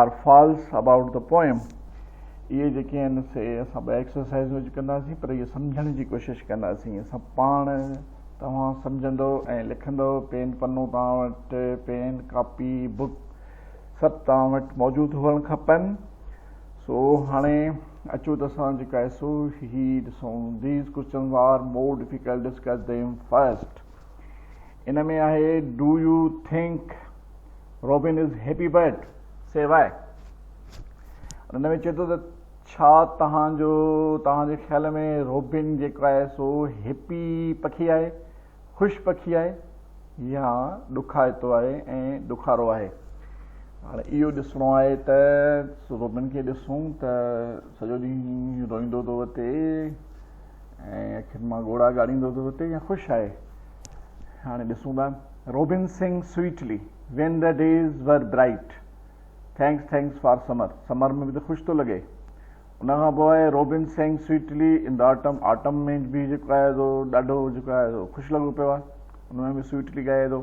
R false about the poem. اهي جيڪي آهن سي اسان ٻيا ايڪسرسائيز وچ ڪنداسين پر اهي سمجهڻ جي ڪوشش ڪنداسين اسان پاڻ توهان سمجهندو ۽ لکندو پين پنو توهان وٽ پين ڪاپي بڪ سڀ توهان وٽ موجود هئڻ کپن سو هاڻي اچو ته اسان جيڪا سو هي ڏسون these questions are more difficult discuss them first ان ۾ آهي do you think robin is happy bird C why ان ۾ چئي ٿو ته ڇا توهان جو توهان جي خيال ۾ روبن جيڪو آهي سو هيپي پکي آهي خوش پکي آهي يا ڏکائتو آهي ۽ ڏکارو آهي هاڻي اهو ڏسڻو آهي ته روبن کي ڏسون ته سڄو ڏينهن روئيندو ٿو وتي ۽ اکين مان ڳوڙها ڳاڙيندو ٿو ڦٽي يا خوش آهي هاڻي ڏسون ٿا robin sang sweetly when the days were bright thanks thanks for summer summer ۾ به ته خوش ٿو لڳي ان کان پوء آهي روبن سنگ سويٽلي ان دا آٽم آٽم ۾ به جيڪو آهي سو ڏاڍو جيڪو آهي سو خوش لڳو پيو آهي ان ۾ به سويٽلي ڳائي ٿو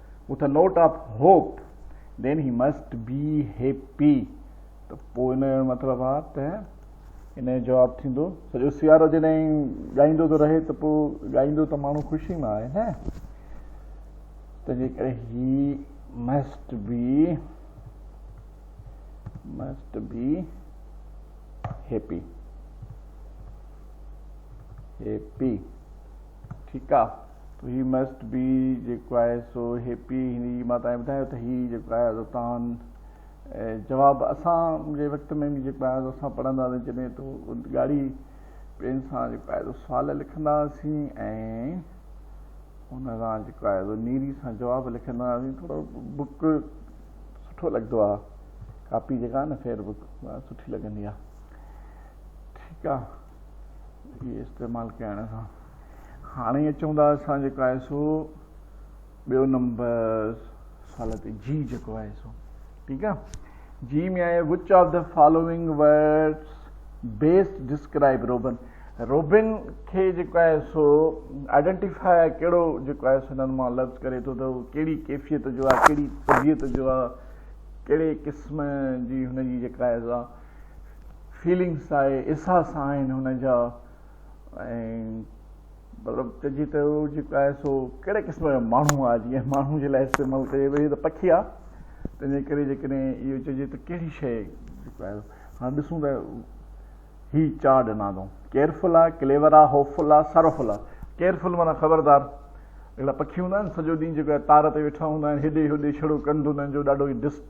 with a note of hope then he must be happy ته پوء ان جو مطلب آ ته ان جو جواب ٿيندو سڄو سيارو جڏهن ڳائيندو ٿو رهي ته پوء ڳائيندو ته ماڻهو خوشي مان آهي نه تنهنجي ڪري he must be must be happy happy ٺيڪ آ تو هي مسٽ بي جيڪو آهي سو هيپي هن جي مان تائين ٻڌايو ته هي جيڪو آهي سو تان جواب اسان جي وقت ۾ به جيڪو آهي سو اسان پڙهندا هئاسين جڏهن تو ڳاڙهي پين سان جيڪو آهي سو سوال لکندا هئاسين ۽ ان سان جيڪو آهي سو نيري سان جواب لکندا هئاسين ٿورو بڪ سٺو لڳندو آ ڪاپي جيڪا آ نه فيئر بڪ سٺي لڳندي آ ٺيڪ آ اهي استعمال ڪيائڻ سان هاڻي اچون ٿا اسان جيڪو آهي سو ٻيو نمبر سوال تي جي جيڪو آهي سو ٺيڪ آهي جي ۾ آهي which of the following words best describe robin robin کي جيڪو آهي سو آئيڊينٽيفائي ڪهڙو جيڪو آهي سو هنن مان لفظ ڪري ٿو ته هو ڪهڙي ڪيفيت جو آهي ڪهڙي طبيعت جو آهي ڪهڙي قسم جي هن جي جيڪا آهي سا فيلنگس آهي احساس آهن هن جا ۽ مطلب چئجي ته هو جيڪو آهي سو ڪهڙي قسم جو ماڻهو آهي جيئن ماڻهو جي لاء استعمال ڪجي ويهي ته پکي آهي تنهنجي ڪري جيڪڏهن اهو چئجي ته ڪهڙي شيء جيڪو آهي هاڻ ڏسون ته هي چار ڏنا اٿئون ڪيئرفل آهي ڪليور آهي هوپفل آهي ساروفل آهي ڪيئرفل معنيٰ خبردار اهڙا پکي هوندا آهن سڄو ڏينهن جيڪو آهي تار تي ويٺا هوندا آهن هيڏي هوڏي ڇڙو ڪنڌ هنن جو ڏاڍو ئي ڊسٽ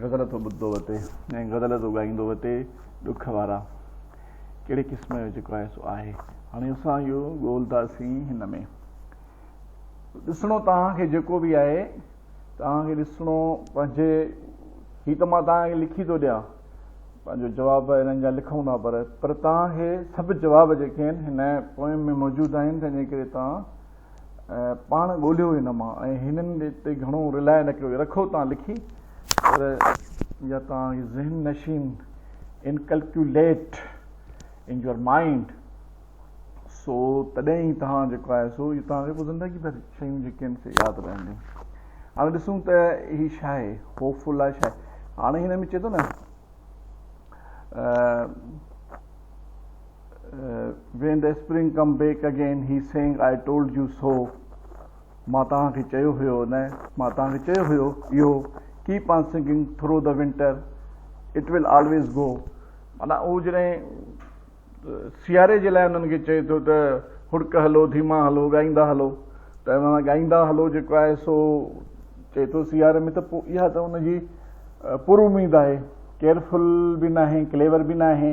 غزل ٿو ٻڌندو وتي ۽ غزل ٿو ڳائيندو وتي ڏک وارا ڪهڙي قسم جو جيڪو آهي سو آهي هاڻي اسان اهو ڳولنداسين هن ۾ ڏسڻو توهان کي جيڪو به آهي توهان کي ڏسڻو پنهنجي هي ته مان توهان کي لکي ٿو ڏيان پنهنجو جواب هنن جا لکون ٿا پر پر توهان کي سڀ جواب جيڪي آهن هن پوئم ۾ موجود آهن تنهنجي ڪري توهان پاڻ ڳولهيو هن مان ۽ هنن تي گهڻو رلاء نه ڪيو. رکو تان لکي پر يا تان ذهن نشين Inculculate in your mind سو تڏهن ئي تان جيڪو آهي سو اهو تان کي زندگي ڀر شيون جيڪي آهن سي ياد رهنديون. هاڻي ڏسون ته هي ڇا آهي؟ هوپ لاء ڇا آهي؟ هاڻي هن ۾ چئي ٿو نه When the spring come back again he sang I told you so مان توهان کي چيو هيو نه مان توهان کي چيو هيو اهو Keep on singing through the winter it will always go معنيٰ هو جڏهن سياري جي لاء انهن کي چئي ٿو ته هڙڪ هلو ڌيما هلو ڳائيندا هلو ته معنيٰ ڳائيندا هلو جيڪو آهي سو چئي ٿو سياري ۾ ته اها ته ان جي پر اميد آهي ڪيئرفل به ناهي ڪليور به ناهي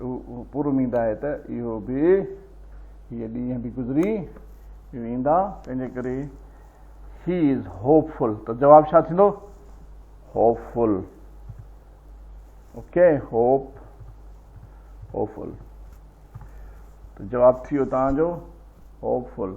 اهو پر اميد آهي ته اهو به هي ڏينهن به گذري ويندا تنهنجي ڪري هي از هوپ فل ته جواب ڇا ٿيندو hopeful okay hope hopeful ته جواب ٿي ويو تان جو hopeful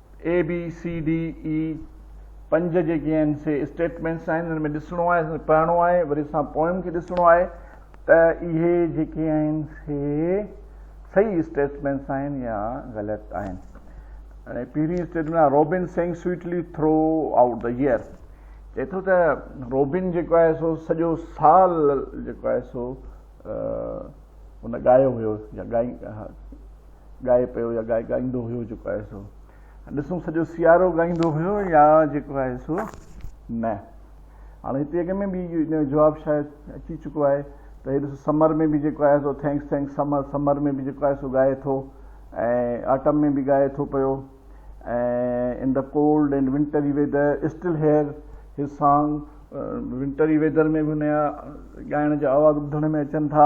A B C D E پنج جيڪي آهن سي اسٽيٽمينٽس آهن انهن ۾ ڏسڻو آهي پڙهڻو آهي وري اسان پوئم کي ڏسڻو آهي ته اهي جيڪي آهن سي صحيح اسٽيٽمينٽس آهن يا غلط آهن هاڻي پهرين اسٽيٽمينٽ آهي robin sang sweetly throughout the year چئي ٿو ته روبن جيڪو آهي سو سڄو سال جيڪو آهي سو ان ڳايو هيو يا ڳائي ڳائي پيو يا ڳائي ڳائيندو هيو جيڪو آهي سو ڏسون سڄو سيارو ڳائيندو هيو يا جيڪو آهي سو نه هاڻي هتي اڳ ۾ به ان جو جواب شايد اچي چڪو آهي ته هي ڏسو سمر ۾ به جيڪو آهي سو ٿينڪس ٿينڪس سمر سمر ۾ به جيڪو آهي سو ڳائي ٿو ۽ آٽم ۾ به ڳائي ٿو پيو ۽ in the cold and wintry weather still hear his song wintry weather ۾ به ان جا ڳائڻ جا آواز ٻڌڻ ۾ اچن ٿا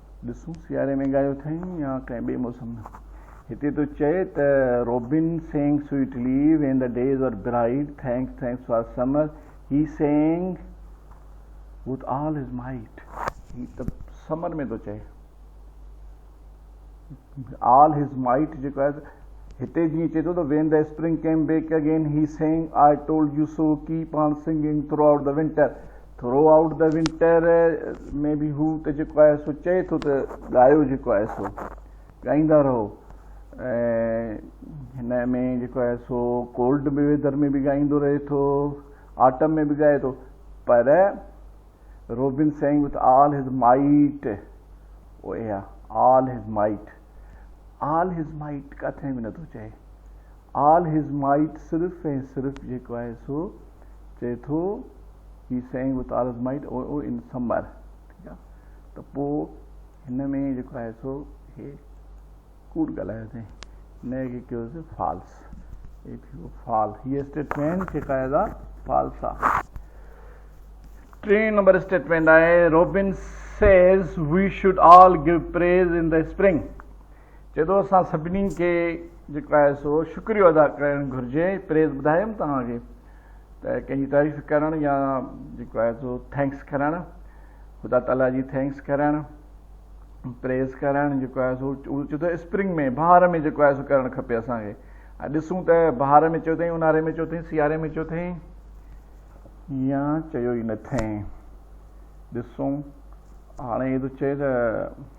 ڏسون سياري ۾ ڳايو اٿئين يا ڪنهن ٻئي موسم ۾. هتي ٿو چئي ته robin sang sweetly when the days are bright thanks thanks for summer he sang with all his might. هي ته سمر ۾ ٿو چئي آل هز مائيٽ جيڪو آهي هتي جيئن چئي ٿو ته when the spring came back again he sang I told you so keep on singing throughout the winter throughout the winter ۾ به هو ته جيڪو آهي سو چئي ٿو ته ڳايو جيڪو آهي سو ڳائيندا رهو ۽ هن ۾ جيڪو آهي سو ڪولڊ به ويدر ۾ به ڳائيندو رهي ٿو آٽم ۾ به ڳائي ٿو پر robin sang with all his might اهي all his might all his might ڪٿي به نٿو چئي آل هز مائيٽ صرف ۽ صرف جيڪو آهي سو چئي ٿو هي sang with all his mite او او ان سمر ٺيڪ آهي ته پو هن ۾ جيڪو آهي سو هي ڪوڙ ڳالهايو ٿي هن کي ڪيو سي فالس هي ٿيو فال هي اسٽيٽمينٽ جيڪا آهي سا فالس آهي ٽي نمبر اسٽيٽمينٽ آهي robin says we should all give praise in the spring چئي ٿو اسان سڀني کي جيڪو آهي سو شڪريو ادا ڪرڻ گهرجي پريز ٻڌايم توهان کي ته ڪنهن جي تعريف ڪرڻ يا جيڪو آهي سو ٿينڪس ڪرڻ خدا تعالي جي ٿينڪس ڪرڻ پريز ڪرڻ جيڪو آهي سو چئي ٿو اسپرنگ ۾ بهار ۾ جيڪو آهي سو ڪرڻ کپي اسان کي ۽ ڏسون ته بهار ۾ چيو اٿئي اونهاري ۾ چيو اٿئي سياري ۾ چيو اٿئي يا چيو ئي نه اٿئي ڏسون هاڻي هي ٿو چئي ته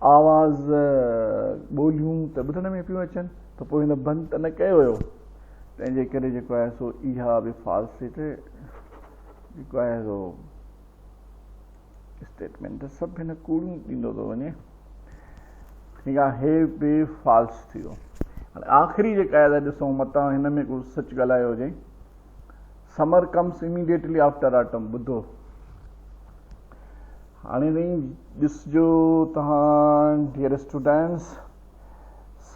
آواز ٻوليون ته ٻڌڻ ۾ پيون اچن ته پوء هن بند ته نه ڪيو ويو تنهن جي ڪري جيڪو آهي سو اها به فالسيٽ جيڪو آهي سو اسٽيٽمينٽ سڀ هن ڪوڙيون ڏيندو ٿو وڃي ٺيڪ آهي هي به فالس ٿي ويو هاڻي آخري جيڪا آهي ڏسون متان هن ۾ ڪو سچ ڳالهايو هجي summer comes immediately after autumn ٻڌو هاڻي وڃي ڏسجو توهان ڊيئر اسٽوڊنٽس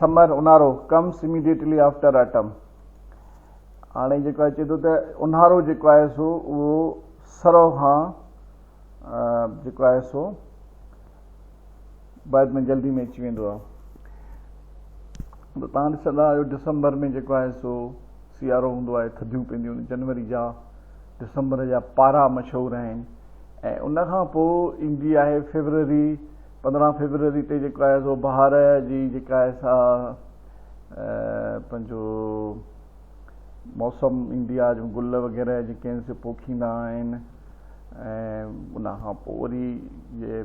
سمر اونهارو ڪمس اميڊيٽلي آفٽر آٽم هاڻي جيڪو اچي ٿو ته اونهارو جيڪو آهي سو اهو سرو کان جيڪو آهي سو بعد ۾ جلدي ۾ اچي ويندو آهي ته تهان ڏسندا آهيو ڊسمبر ۾ جيڪو آهي سو سيارو هوندو آهي ٿڌيون پينديون جنوري جا ڊسمبر جا پارا مشهور آهن ۽ ان کان پوء ايندي آهي فيبروري پندرهن فيبروري تي جيڪو آهي سو بهار جي جيڪا آهي سا پنهنجو موسم ايندي آهي جو گل وغيره جيڪي آهن سي پوکيندا آهن ۽ ان کان پوء وري جي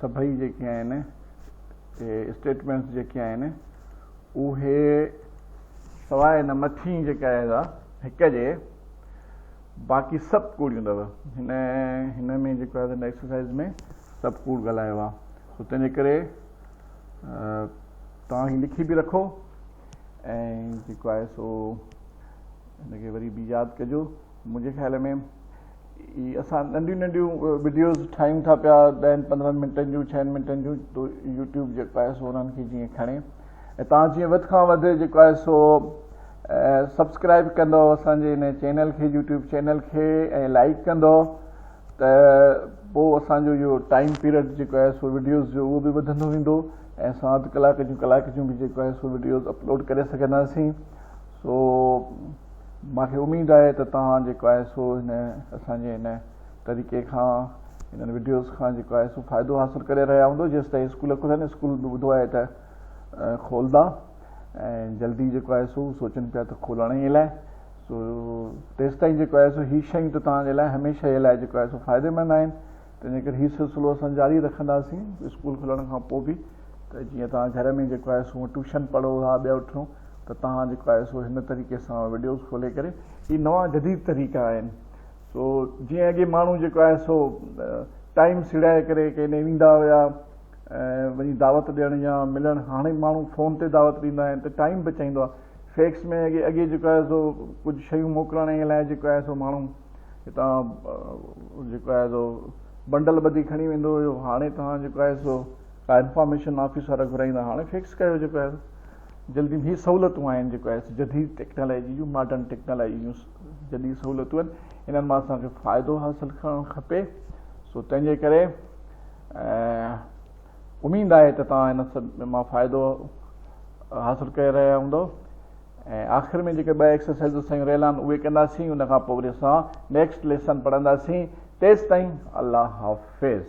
سڀئي جيڪي آهن اهي اسٽيٽمينٽس جيڪي آهن اهي سواء هن مٿين جيڪا آهي سا هڪ جي باقي سڀ ڪوڙيون اٿو هن هن ۾ جيڪو آهي هن ايڪسرسائز ۾ سڀ ڪوڙ ڳالهايو آهي سو تنهنجي ڪري توهان هي لکي به رکو ۽ جيڪو آهي سو هن کي وري به ياد ڪجو منهنجي خيال ۾ هي اسان ننڍيون ننڍيون وڊيوز ٺاهيون ٿا پيا ڏهن پندرهن منٽن جون ڇهن منٽن جون تو يوٽيوب جيڪو آهي سو انهن کي جيئن کڻي ۽ تان جيئن وڌ کان وڌ جيڪو آهي سو سبسڪرائب ڪندو اسان جي ان چينل کي يوٽيوب چينل کي ۽ لائڪ ڪندو ته پوء اسان جو اهو ٽائيم پيريڊ جيڪو آهي سو وڊيوز جو اهو به وڌندو ويندو ۽ اسان اڌ ڪلاڪ جون ڪلاڪ جون به جيڪو آهي سو وڊيوز اپلوڊ ڪري سگهنداسين سو مان کي اميد آهي ته توهان جيڪو آهي سو هن اسان جي هن طريقي کان هنن وڊيوز کان جيڪو آهي سو فائدو حاصل ڪري رهيا هوندو جيستائين اسڪول کلن اسڪول به ٻڌو آهي ته کولندا ۽ جلدي جيڪو آهي سو سوچن پيا ته کولڻ ئي لاء سو تيستائين جيڪو آهي سو هي شيون ته توهان جي لاء هميشه جي لاء جيڪو آهي سو فائديمند آهن تنهنجي ڪري هي سلسلو اسان جاري رکنداسين اسڪول کلڻ کان پوء به ته جيئن توهان گهر ۾ جيڪو آهي سو هونء ٽيوشن پڙهو ها ٻيا ٺون ته توهان جيڪو آهي سو هن طريقي سان وڊيوز کولي ڪري هي نوان جديد طريقا آهن سو جيئن اڳي ماڻهو جيڪو آهي سو ٽائيم سڙائي ڪري ڪنهن ڏي ويندا هيا ۽ وڃي دعوت ڏيڻ يا ملڻ هاڻي ماڻهو فون تي دعوت ڏيندا آهن ته ٽائيم بچائيندو آهي فيڪس ۾ اڳي اڳي جيڪو آهي سو ڪجهه شيون موڪلڻ لاء جيڪو آهي سو ماڻهو هتان جيڪو آهي سو بنڊل ٻڌي کڻي ويندو هيو هاڻي توهان جيڪو آهي سو ڪا انفارميشن آفيسر گهرائيندا هاڻي فيڪس ڪيو جيڪو آهي جلدي هي سهولتون آهن جيڪو آهي سو جديد ٽيڪنالاجي جون ماڊرن ٽيڪنالاجي جون جديد سهولتون آهن انهن مان اسان کي فائدو حاصل ڪرڻ کپي سو تنهن جي ڪري اميد آهي ته توهان ان مان فائدو حاصل ڪري رهيا هوندو ۽ آخر ۾ جيڪي ٻه ايڪسرسائيزون سيون رهيل آهن اهي ڪنداسين ان کان پوء وري اسان نيڪسٽ ليسن پڙهنداسين تيستائين الله حافظ.